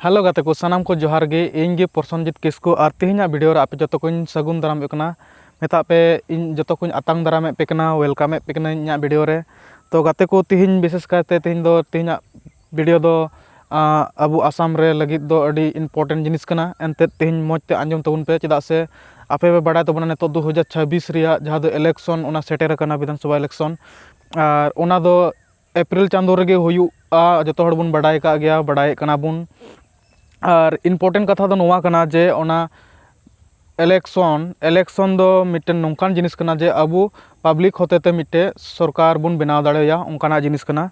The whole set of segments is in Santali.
ᱦᱮᱞᱳ ᱜᱟᱛᱮ ᱠᱚ ᱥᱟᱱᱟᱢ ᱠᱚ ᱡᱚᱦᱟᱨ ᱜᱮ ᱤᱧ ᱜᱮ ᱯᱨᱚᱥᱚᱱᱡᱤᱛ ᱠᱤᱥᱠᱩ ᱟᱨ ᱛᱮᱦᱮᱧᱟᱜ ᱵᱷᱤᱰᱤᱭᱳ ᱨᱮ ᱟᱯᱮ ᱡᱚᱛᱚ ᱠᱚᱧ ᱥᱟᱹᱜᱩᱱ ᱫᱟᱨᱟᱢ ᱮᱫ ᱠᱟᱱᱟ ᱢᱮᱛᱟᱜ ᱯᱮ ᱤᱧ ᱡᱚᱛᱚ ᱠᱚᱧ ᱟᱛᱟᱝ ᱫᱟᱨᱟᱢ ᱮᱫ ᱯᱮ ᱠᱟᱱᱟ ᱚᱭᱮᱞᱠᱟᱢ ᱮᱫ ᱯᱮ ᱠᱟᱹᱱᱟᱹᱧ ᱤᱧᱟᱹᱜ ᱵᱷᱤᱰᱤᱭᱳ ᱨᱮ ᱛᱳ ᱜᱟᱛᱮ ᱠᱚ ᱛᱮᱦᱮᱧ ᱵᱤᱥᱮᱥ ᱠᱟᱭᱛᱮ ᱛᱮᱦᱮᱧ ᱫᱚ ᱛᱮᱦᱮᱧᱟᱜ ᱵᱷᱤᱰᱤᱭᱳ ᱫᱚ ᱟᱵᱚ ᱟᱥᱟᱢ ᱨᱮ ᱞᱟᱹᱜᱤᱫ ᱫᱚ ᱟᱹᱰᱤ ᱤᱱᱯᱳᱨᱴᱮᱱᱴ ᱡᱤᱱᱤᱥ ᱠᱟᱱᱟ ᱮᱱᱛᱮᱫ ᱛᱮᱦᱮᱧ ᱢᱚᱡᱽ ᱛᱮ ᱟᱸᱡᱚᱢ ᱛᱟᱵᱚᱱ ᱯᱮ ᱪᱮᱫᱟᱜ ᱥᱮ ᱟᱯᱮ ᱯᱮ ᱵᱟᱲᱟᱭ ᱛᱟᱵᱚᱱᱟ ᱱᱤᱛᱚᱜ ᱫᱩ ᱦᱟᱡᱟᱨ ᱪᱷᱟᱵᱵᱤᱥ ᱨᱮᱭᱟᱜ ᱡᱟᱦᱟᱸ ᱫᱚ ᱤᱞᱮᱠᱥᱚᱱ ᱚᱱᱟ ᱥᱮᱴᱮᱨ ᱟᱠᱟᱱᱟ ᱵᱤᱫᱷᱟᱱ ᱥᱚᱵᱷᱟ ᱤᱞᱮᱠᱥᱚᱱ ᱟᱨ ᱚᱱᱟ ᱫᱚ ᱮᱯᱨᱤᱞ ᱪᱟᱸᱫᱳ ᱨᱮᱜᱮ ᱦᱩᱭᱩᱜᱼᱟ ᱡᱚᱛᱚ ᱦᱚᱲ ᱵᱚᱱ ᱵᱟᱰᱟᱭ ᱠᱟᱜ ᱜᱮᱭᱟ ᱵᱟᱰᱟᱭᱮᱜ ᱠᱟᱱᱟ ᱵᱚᱱ ᱟᱨ ᱤᱱᱯᱳᱨᱴᱮᱱᱴ ᱠᱟᱛᱷᱟ ᱫᱚ ᱱᱚᱣᱟ ᱠᱟᱱᱟ ᱡᱮ ᱚᱱᱟ ᱤᱞᱮᱠᱥᱚᱱ ᱤᱞᱮᱠᱥᱚᱱ ᱫᱚ ᱢᱤᱫᱴᱮᱱ ᱱᱚᱝᱠᱟᱱ ᱡᱤᱱᱤᱥ ᱠᱟᱱᱟ ᱡᱮ ᱟᱵᱚ ᱯᱟᱵᱽᱞᱤᱠ ᱦᱚᱛᱮ ᱛᱮ ᱢᱤᱫᱴᱮᱡ ᱥᱚᱨᱠᱟᱨ ᱵᱚᱱ ᱵᱮᱱᱟᱣ ᱫᱟᱲᱮ ᱟᱭᱟ ᱚᱱᱠᱟᱱᱟᱜ ᱡᱤᱱᱤᱥ ᱠᱟᱱᱟ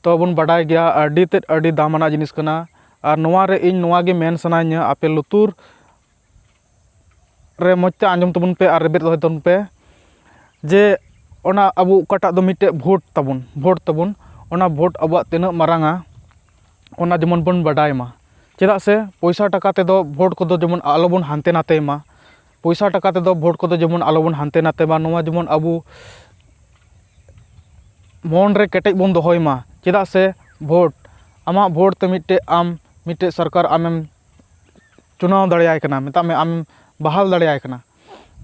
ᱛᱚ ᱵᱚᱱ ᱵᱟᱰᱟᱭ ᱜᱮᱭᱟ ᱟᱹᱰᱤ ᱛᱮᱫ ᱟᱹᱰᱤ ᱫᱟᱢᱟᱱᱟᱜ ᱡᱤᱱᱤᱥ ᱠᱟᱱᱟ ᱟᱨ ᱱᱚᱣᱟᱨᱮ ᱤᱧ ᱱᱚᱣᱟᱜᱮ ᱢᱮᱱ ᱥᱟᱱᱟᱧᱟ ᱟᱯᱮ ᱞᱩᱛᱩᱨ ᱨᱮ ᱢᱚᱡᱽ ᱛᱮ ᱟᱸᱡᱚᱢ ᱛᱟᱵᱚᱱ ᱯᱮ ᱟᱨ ᱨᱮᱵᱮᱫ ᱫᱚᱦᱚᱭ ᱛᱟᱵᱚᱱ ᱯᱮ ᱡᱮ ᱚᱱᱟ ᱟᱵᱚ ᱚᱠᱟᱴᱟᱜ ᱫᱚ ᱢᱤᱫᱴᱮᱡ ᱵᱷᱳᱴ ᱛᱟᱵᱚᱱ ᱵᱷᱳᱴ ᱛᱟᱵᱚᱱ ᱚᱱᱟ ᱵᱷᱳᱴ ᱟᱵᱚᱣᱟᱜ ᱛᱤᱱᱟᱹᱜ ᱢᱟᱨᱟᱝᱟ ᱚᱱᱟ ᱡᱮᱢᱚᱱ ᱵᱚᱱ ᱵᱟᱰᱟᱭ ᱢᱟ ᱪᱮᱫᱟᱜ ᱥᱮ ᱯᱚᱭᱥᱟ ᱴᱟᱠᱟ ᱛᱮᱫᱚ ᱵᱷᱳᱴ ᱠᱚᱫᱚ ᱡᱮᱢᱚᱱ ᱟᱞᱚ ᱵᱚᱱ ᱦᱟᱱᱛᱮ ᱱᱟᱛᱮᱭ ᱢᱟ ᱯᱚᱭᱥᱟ ᱴᱟᱠᱟ ᱛᱮᱫᱚ ᱵᱷᱳᱴ ᱠᱚᱫᱚ ᱡᱮᱢᱚᱱ ᱟᱞᱚ ᱵᱚᱱ ᱦᱟᱱᱛᱮ ᱱᱟᱛᱮᱭ ᱢᱟ ᱱᱚᱣᱟ ᱡᱮᱢᱚᱱ ᱟᱵᱚ ᱢᱚᱱ ᱨᱮ ᱠᱮᱴᱮᱡ ᱵᱚᱱ ᱫᱚᱦᱚᱭ ᱢᱟ ᱪᱮᱫᱟᱜ ᱥᱮ ᱵᱷᱳᱴ ᱟᱢᱟᱜ ᱵᱷᱳᱴ ᱛᱮ ᱢᱤᱫᱴᱮᱡ ᱟᱢ ᱢᱤᱫᱴᱮᱡ ᱥᱚᱨᱠᱟᱨ ᱟᱢᱮᱢ ᱪᱩᱱᱟᱣ ᱫᱟᱲᱮᱭᱟᱭ ᱠᱟᱱᱟ ᱢᱮᱛᱟᱜ ᱢᱮ ᱟᱢ ᱵᱟᱦᱟᱞ ᱫᱟᱲᱮᱭᱟᱭ ᱠᱟᱱᱟ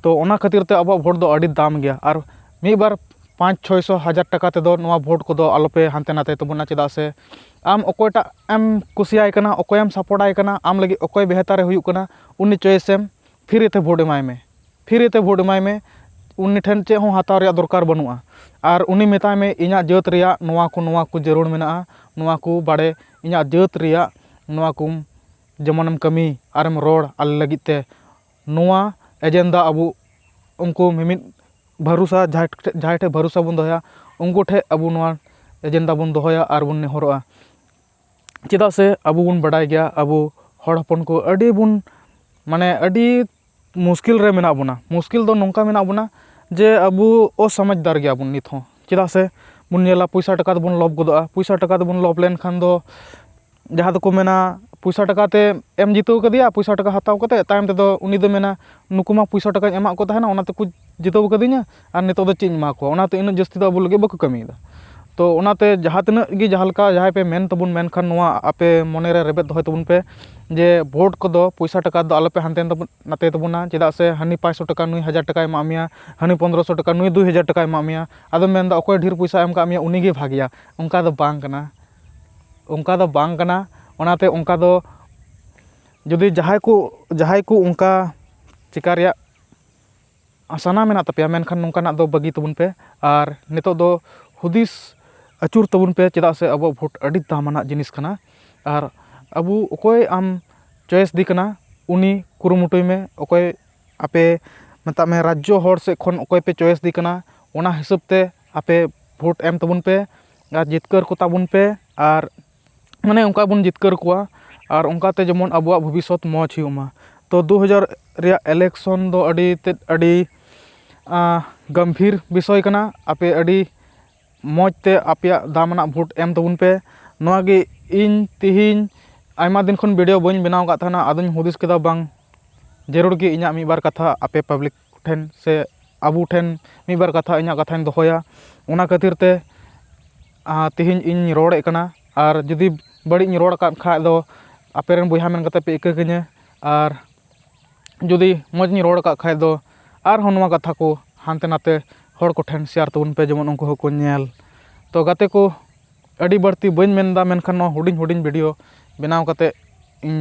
ᱛᱚ ᱚᱱᱟ ᱠᱷᱟᱹᱛᱤᱨ ᱛᱮ ᱟᱵᱚᱣᱟᱜ ᱵᱷᱳᱴ ᱫᱚ ᱟᱹᱰᱤ ᱫᱟᱢ ᱜᱮᱭᱟ ᱟᱨ ᱢᱤᱫ ᱵᱟᱨ ᱯᱟᱸᱪ ᱪᱷᱚᱭ ᱥᱚ ᱦᱟᱡᱟᱨ ᱴᱟᱠᱟ ᱛᱮᱫᱚ ᱱᱚᱣᱟ ᱵᱷᱳᱴ ᱠᱚᱫᱚ ᱟᱞᱚ ᱯᱮ ᱦᱟᱱᱛᱮ ᱱᱟᱛᱮ ᱛᱟᱵᱚᱱᱟ ᱪᱮᱫᱟᱜ ᱥᱮ ᱟᱢ ᱚᱠᱚᱭᱴᱟᱜ ᱮᱢ ᱠᱩᱥᱤᱭᱟᱭ ᱠᱟᱱᱟ ᱚᱠᱚᱭᱮᱢ ᱥᱟᱯᱳᱨᱴ ᱟᱭ ᱠᱟᱱᱟ ᱟᱢ ᱞᱟᱹᱜᱤᱫ ᱚᱠᱚᱭ ᱵᱮᱦᱛᱟᱨᱮ ᱦᱩᱭᱩᱜ ᱠᱟᱱᱟ ᱩᱱᱤ ᱪᱚᱭᱮᱥ ᱮᱢ ᱯᱷᱨᱤ ᱛᱮ ᱵᱷᱳᱴ ᱮᱢᱟᱭ ᱢᱮ ᱯᱷᱨᱤ ᱛᱮ ᱵᱷᱳᱴ ᱮᱢᱟᱭ ᱢᱮ ᱩᱱᱤ ᱴᱷᱮᱱ ᱪᱮᱫ ᱦᱚᱸ ᱦᱟᱛᱟᱣ ᱨᱮᱭᱟᱜ ᱫᱚᱨᱠᱟᱨ ᱵᱟᱹᱱᱩᱜᱼᱟ ᱟᱨ ᱩᱱᱤ ᱢᱮᱛᱟᱭ ᱢᱮ ᱤᱧᱟᱹᱜ ᱡᱟᱹᱛ ᱨᱮᱭᱟᱜ ᱱᱚᱣᱟ ᱠᱚ ᱱᱚᱣᱟ ᱠᱚ ᱡᱟᱹᱨᱩᱲ ᱢᱮᱱᱟᱜᱼᱟ ᱱᱚᱣᱟ ᱠᱚ ᱵᱟᱲᱮ ᱤᱧᱟᱹᱜ ᱡᱟᱹᱛ ᱨᱮᱭᱟᱜ ᱱᱚᱣᱟ ᱠᱚᱢ ᱡᱮᱢᱚᱱᱮᱢ ᱠᱟᱹᱢᱤ ᱟᱨᱮᱢ ᱨᱚᱲ ᱟᱞᱮ ᱞᱟᱹᱜᱤᱫ ᱛᱮ ᱱᱚᱣᱟ ᱮᱡᱮᱱᱰᱟ ᱟᱵᱚ ᱩᱱᱠᱩ ᱢᱤᱢᱤᱫ ᱵᱷᱚᱨᱥᱟ ᱡᱟᱦᱟᱸᱭ ᱴᱷᱮᱡ ᱡᱟᱦᱟᱸᱭ ᱴᱷᱮᱡ ᱵᱷᱚᱨᱥᱟ ᱵᱚᱱ ᱫᱚᱦᱚᱭᱟ ᱩᱱᱠᱩ ᱴᱷᱮᱡ ᱟᱵᱚ ᱱᱚᱣᱟ ᱮᱡᱮᱱᱰᱟ ᱵᱚᱱ ᱫᱚᱦᱚᱭᱟ ᱟᱨ ᱵᱚᱱ ᱱᱮᱦᱚᱨᱚᱜᱼᱟ ᱪᱮᱫᱟᱜ ᱥᱮ ᱟᱵᱚ ᱵᱚᱱ ᱵᱟᱰᱟᱭ ᱜᱮᱭᱟ ᱟᱵᱚ ᱦᱚᱲ ᱦᱚᱯᱚᱱ ᱠᱚ ᱟᱹᱰᱤ ᱵᱚᱱ ᱢᱟᱱᱮ ᱟᱹᱰᱤ ᱢᱩᱥᱠᱤᱞ ᱨᱮ ᱢᱮᱱᱟᱜ ᱵᱚᱱᱟ ᱢᱩᱥᱠᱤᱞ ᱫᱚ ᱱᱚᱝᱠᱟ ᱢᱮᱱᱟᱜ ᱵᱚᱱᱟ ᱡᱮ ᱟᱵᱚ ᱚᱥᱚᱢᱟᱡᱽᱫᱟᱨ ᱜᱮᱭᱟ ᱵᱚᱱ ᱱᱤᱛ ᱦᱚᱸ ᱪᱮᱫᱟᱜ ᱥᱮ ᱵᱚᱱ ᱧᱮᱞᱟ ᱯᱚᱭᱥᱟ ᱴᱟᱠᱟ ᱛᱮᱵᱚᱱ ᱞᱚᱵᱽ ᱜᱚᱫᱚᱜᱼᱟ ᱯᱚᱭᱥᱟ ᱴᱟᱠᱟ ᱛᱮᱵᱚᱱ ᱞᱚᱵᱽ ᱞᱮᱱᱠᱷᱟᱱ ᱫᱚ ᱡᱟᱦᱟᱸ ᱫᱚᱠᱚ ᱢᱮᱱᱟ ᱯᱚᱭᱥᱟ ᱴᱟᱠᱟ ᱛᱮ ᱮᱢ ᱡᱤᱛᱟᱹᱣ ᱠᱟᱫᱮᱭᱟ ᱯᱚᱭᱥᱟ ᱴᱟᱠᱟ ᱦᱟᱛᱟᱣ ᱠᱟᱛᱮᱫ ᱛᱟᱭᱚᱢ ᱛᱮᱫᱚ ᱩᱱᱤ ᱫᱚᱭ ᱢᱮᱱᱟ ᱱᱩᱠᱩ ᱢᱟ ᱯᱚᱭᱥᱟ ᱴᱟᱠᱟᱧ ᱮᱢᱟᱜ ᱠᱚ ᱛᱟᱦᱮᱱᱟ ᱚᱱᱟ ᱛᱮᱠᱚ ᱡᱤᱛᱟᱹᱣ ᱠᱟᱹᱫᱤᱧᱟ ᱟᱨ ᱱᱤᱛᱚᱜ ᱫᱚ ᱪᱮᱫ ᱤᱧ ᱮᱢᱟ ᱠᱚᱣᱟ ᱚᱱᱟᱛᱮ ᱩᱱᱟᱹᱜ ᱡᱟᱹᱥᱛᱤ ᱫᱚ ᱟᱵᱚ ᱞᱟᱹᱜᱤᱫ ᱵᱟᱠᱚ ᱠᱟᱹᱢᱤᱭᱮᱫᱟ ᱛᱳ ᱚᱱᱟᱛᱮ ᱡᱟᱦᱟᱸ ᱛᱤᱱᱟᱹᱜ ᱜᱮ ᱡᱟᱦᱟᱸ ᱞᱮᱠᱟ ᱡᱟᱦᱟᱸᱭ ᱯᱮ ᱢᱮᱱ ᱛᱟᱵᱚᱱ ᱢᱮᱱᱠᱷᱟᱱ ᱱᱚᱣᱟ ᱟᱯᱮ ᱢᱚᱱᱮᱨᱮ ᱨᱮᱵᱮᱫ ᱫᱚᱦᱚᱭ ᱛᱟᱵᱚᱱ ᱯᱮ ᱡᱮ ᱵᱷᱳᱴ ᱠᱚᱫᱚ ᱯᱚᱭᱥᱟ ᱴᱟᱠᱟ ᱛᱮᱫᱚ ᱟᱞᱚᱯᱮ ᱦᱟᱱᱛᱮ ᱱᱟᱛᱮ ᱛᱟᱵᱚᱱᱟ ᱪᱮᱫᱟᱜ ᱥᱮ ᱦᱟᱹᱱᱤ ᱯᱟᱸᱥᱥᱳ ᱴᱟᱠᱟ ᱱᱩᱭ ᱦᱟᱡᱟᱨ ᱴᱟᱠᱟᱭ ᱮᱢᱟᱜ ᱢᱮᱭᱟ ᱦᱟᱹᱱᱤ ᱯᱚᱱᱨᱚ ᱥᱚ ᱴᱟᱠᱟ ᱱᱩᱭ ᱫᱩ ᱦᱟᱡᱟᱨ ᱴᱟᱠᱟᱭ ᱮᱢᱟᱜ ᱢᱮᱭᱟ ᱟᱫᱚᱢ ᱢᱮᱱᱫᱟ ᱚᱠᱚᱭ ᱰᱷᱮᱨ ᱯᱚᱭᱥᱟᱭ ᱮᱢ ᱠᱟᱜ ᱢᱮᱭᱟ ᱩᱱᱤᱜᱮ ᱵᱷᱟᱹᱜᱤᱭᱟ ᱚᱱᱠᱟ ᱫᱚ ᱵᱟᱝ ᱠᱟᱱᱟ ᱚᱱᱠᱟ ᱫᱚ ᱵᱟᱝ ᱠᱟᱱᱟ ᱚᱱᱟᱛᱮ ᱚᱱᱠᱟ ᱫᱚ ᱡᱩᱫᱤ ᱡᱟᱦᱟᱸᱭ ᱠᱚ ᱡᱟᱦᱟᱸᱭ ᱠᱚ ᱚᱱᱠᱟ ᱪᱤᱠᱟ ᱨᱮᱭᱟᱜ ᱥᱟᱱᱟ ᱢᱮᱱᱟᱜ ᱛᱟᱯᱮᱭᱟ ᱢᱮᱱᱠᱷᱟᱱ ᱱᱚᱝᱠᱟᱱᱟᱜ ᱫᱚ ᱵᱟᱹᱜᱤ ᱛᱟᱵᱚᱱ ᱯᱮ ᱟᱨ ᱱᱤᱛᱚᱜ ᱫᱚ ᱦᱩᱫᱤᱥ ᱟᱹᱪᱩᱨ ᱛᱟᱵᱚᱱ ᱯᱮ ᱪᱮᱫᱟᱜ ᱥᱮ ᱟᱵᱚᱣᱟᱜ ᱵᱷᱳᱴ ᱟᱹᱰᱤ ᱫᱟᱢᱟᱱᱟᱜ ᱡᱤᱱᱤᱥ ᱠᱟᱱᱟ ᱟᱨ ᱟᱵᱚ ᱚᱠᱚᱭ ᱟᱢ ᱪᱚᱭᱮᱥ ᱫᱮ ᱠᱟᱱᱟ ᱩᱱᱤ ᱠᱩᱨᱩᱢᱩᱴᱩᱭ ᱢᱮ ᱚᱠᱚᱭ ᱟᱯᱮ ᱢᱮᱛᱟᱜ ᱢᱮ ᱨᱟᱡᱽᱡᱚ ᱦᱚᱲ ᱥᱮᱫ ᱠᱷᱚᱱ ᱚᱠᱚᱭ ᱯᱮ ᱪᱚᱭᱮᱥ ᱫᱮ ᱠᱟᱱᱟ ᱚᱱᱟ ᱦᱤᱥᱟᱹᱵ ᱛᱮ ᱟᱯᱮ ᱵᱷᱳᱴ ᱮᱢ ᱛᱟᱵᱚᱱ ᱯᱮ ᱟᱨ ᱡᱤᱛᱠᱟᱹᱨ ᱠᱚᱛᱟ ᱵᱚᱱ ᱯᱮ ᱟᱨ ᱢᱟᱱᱮ ᱚᱱᱠᱟ ᱵᱚᱱ ᱡᱤᱛᱠᱟᱹᱨ ᱠᱚᱣᱟ ᱟᱨ ᱚᱱᱠᱟᱛᱮ ᱡᱮᱢᱚᱱ ᱟᱵᱚᱣᱟᱜ ᱵᱷᱚᱵᱤᱥᱥᱚᱛ ᱢᱚᱡᱽ ᱦᱩᱭᱩᱜ ᱢᱟ ᱛᱳ ᱫᱩ ᱦᱟᱡᱟᱨ ᱨᱮᱭᱟᱜ ᱤᱞᱮᱠᱥᱚᱱ ᱫᱚ ᱟᱹᱰᱤ ᱛᱮᱫ ᱟᱹᱰᱤ ᱜᱚᱢᱵᱷᱤᱨ ᱵᱤᱥᱚᱭ ᱠᱟᱱᱟ ᱟᱯᱮ ᱟᱹᱰᱤ ᱢᱚᱡᱽ ᱛᱮ ᱟᱯᱮᱭᱟᱜ ᱫᱟᱢᱟᱱᱟᱜ ᱵᱷᱳᱴ ᱮᱢ ᱛᱟᱵᱚᱱ ᱯᱮ ᱱᱚᱣᱟᱜᱮ ᱤᱧ ᱛᱮᱦᱤᱧ ᱟᱭᱢᱟ ᱫᱤᱱ ᱠᱷᱚᱱ ᱵᱷᱤᱰᱭᱳ ᱵᱟᱹᱧ ᱵᱮᱱᱟᱣ ᱠᱟᱜ ᱛᱟᱦᱮᱱᱟ ᱟᱫᱚᱧ ᱦᱩᱫᱤᱥ ᱠᱮᱫᱟ ᱵᱟᱝ ᱡᱟᱹᱨᱩᱲ ᱜᱮ ᱤᱧᱟᱹᱜ ᱢᱤᱫ ᱵᱟᱨ ᱠᱟᱛᱷᱟ ᱟᱯᱮ ᱯᱟᱵᱽᱞᱤᱠ ᱴᱷᱮᱱ ᱥᱮ ᱟᱵᱚ ᱴᱷᱮᱱ ᱢᱤᱫ ᱵᱟᱨ ᱠᱟᱛᱷᱟ ᱤᱧᱟᱹᱜ ᱠᱟᱛᱷᱟᱧ ᱫᱚᱦᱚᱭᱟ ᱚᱱᱟ ᱠᱷᱟᱹᱛᱤᱨ ᱛᱮ ᱛᱮᱦᱮᱧ ᱤᱧ ᱨᱚᱲᱮᱜ ᱠᱟᱱᱟ ᱟᱨ ᱡᱩᱫᱤ ᱵᱟᱹᱲᱤᱡ ᱤᱧ ᱨᱚᱲ ᱠᱟᱜ ᱠᱷᱟᱡ ᱫᱚ ᱟᱯᱮ ᱨᱮᱱ ᱵᱚᱭᱦᱟ ᱢᱮᱱ ᱠᱟᱛᱮᱫ ᱯᱮ ᱤᱠᱟᱹ ᱠᱟᱹᱧᱟ ᱟᱨ ᱡᱩᱫᱤ ᱢᱚᱡᱽ ᱤᱧ ᱨᱚᱲ ᱠᱟᱜ ᱠᱷᱟᱡ ᱫᱚ ᱟᱨᱦᱚᱸ ᱱᱚᱣᱟ ᱠᱟᱛᱷᱟ ᱠᱚ ᱦᱟᱱᱛᱮ ᱱᱟᱛᱮ ᱦᱚᱲ ᱠᱚᱴᱷᱮᱱ ᱥᱮᱭᱟᱨ ᱛᱟᱵᱚᱱ ᱯᱮ ᱡᱮᱢᱚᱱ ᱩᱱᱠᱩ ᱦᱚᱸᱠᱚ ᱧᱮᱞ ᱛᱚ ᱜᱟᱛᱮ ᱠᱚ ᱟᱹᱰᱤ ᱵᱟᱹᱲᱛᱤ ᱵᱟᱹᱧ ᱢᱮᱱᱫᱟ ᱢᱮᱱᱠᱷᱟᱱ ᱱᱚᱣᱟ ᱦᱩᱰᱤᱧ ᱦᱩᱰᱤᱧ ᱵᱷᱤᱰᱭᱳ ᱵᱮᱱᱟᱣ ᱠᱟᱛᱮ ᱤᱧ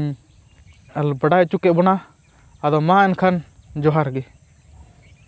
ᱵᱟᱰᱟᱭ ᱦᱚᱪᱚ ᱠᱮᱜ ᱵᱚᱱᱟ ᱟᱫᱚ ᱢᱟ ᱮᱱᱠᱷᱟᱱ ᱡᱚᱦᱟᱨ ᱜᱮ